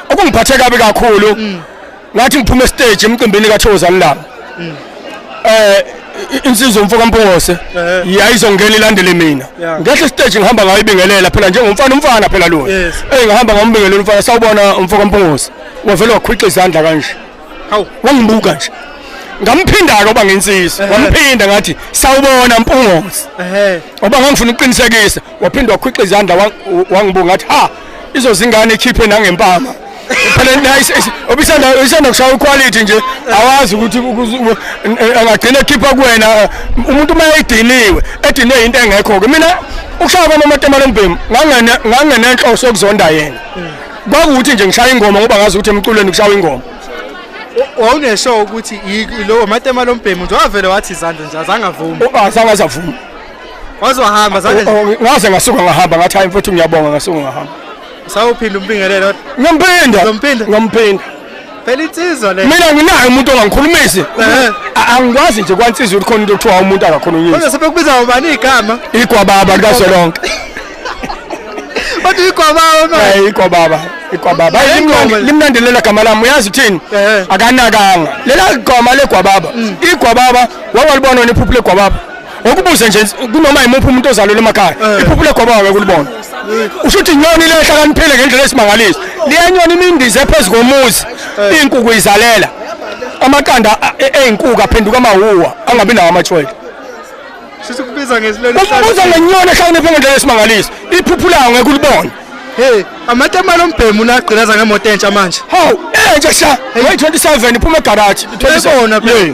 okungiphathe kabi kakhulu mm. ngathi ngiphume stage emcimbini kaThozani la mm. eh insizwa umfoka Mpungose eh. yayizongena ilandele mina ngehla stage ngihamba ngayo ibingelela phela njengomfana umfana phela lo eh ngihamba ngombingelela umfana sawubona umfoka Mpungose wavela wakhwixa izandla kanje hawu wangibuka nje ngamphinda-ke oba ngensizwa wamphinda ngathi sawubona mpungozi oba ngangifuna ukuqinisekisa waphinde wakhwixa izandla wangibuka ngathi ha izozingane ikhiphe nangempama phela nice obisanda isanda kushaya quality nje awazi ukuthi angagcina ekhipha kuwena umuntu uma ediniwe edinwe into engekho ke mina ukushaya kwami amatemala embhemu ngangene ngangenenhloso yokuzonda yena kwakuwuthi nje ngishaya ingoma ngoba ngazi ukuthi emculweni kushawa ingoma wawunesho ukuthi lowo matema lombhemu nje wavele wathi izandla nje azange avume azange azavume waze wahamba zandla oh, oh, ngaze ngasuka ngahamba ngathi hayi mfethu ngiyabonga ngasuka ngahamba sawuphinda umbingelelo ngimphinda ngimphinda ngimphinda phela insizwa le mina nginayo umuntu ongangikhulumisi angikwazi nje kwansizwa ukuthi khona into kuthiwa umuntu akakhona unyisa kodwa sebekubiza ubani igama igwababa likasolonke Kodwa igwababa manje. Eh ikwababa, ikwababa. Hayi limnandi limnandi lela gama lami. Uyazi uthini? Eh. Akanakanga. Lela gama legwababa. Igwababa wawalibona wena iphuphu legwababa. Ngokubuze nje kunoma yimuphi umuntu ozalwe emakhaya. Iphuphu legwababa wekulibona. Usho ukuthi inyoni le ehlakaniphile ngendlela esimangalisa. Liyenyoni imindize phezu komuzi. Inkukhu izalela. Amaqanda a- e- eyinkuku aphenduka amawuwa angabi nawo amatshoyela. Sisi kubiza ngesilwane. Ukubuza ngenyoni ehlakaniphe ngendlela esimangaliso. Iphuphu lawo ngeke ulibone. Hey, amatemana ombhemu unagqilaza ngemoto entsha manje. Hawu, entsha sha. Hey, 27 iphuma egaraji. Uyabona phela.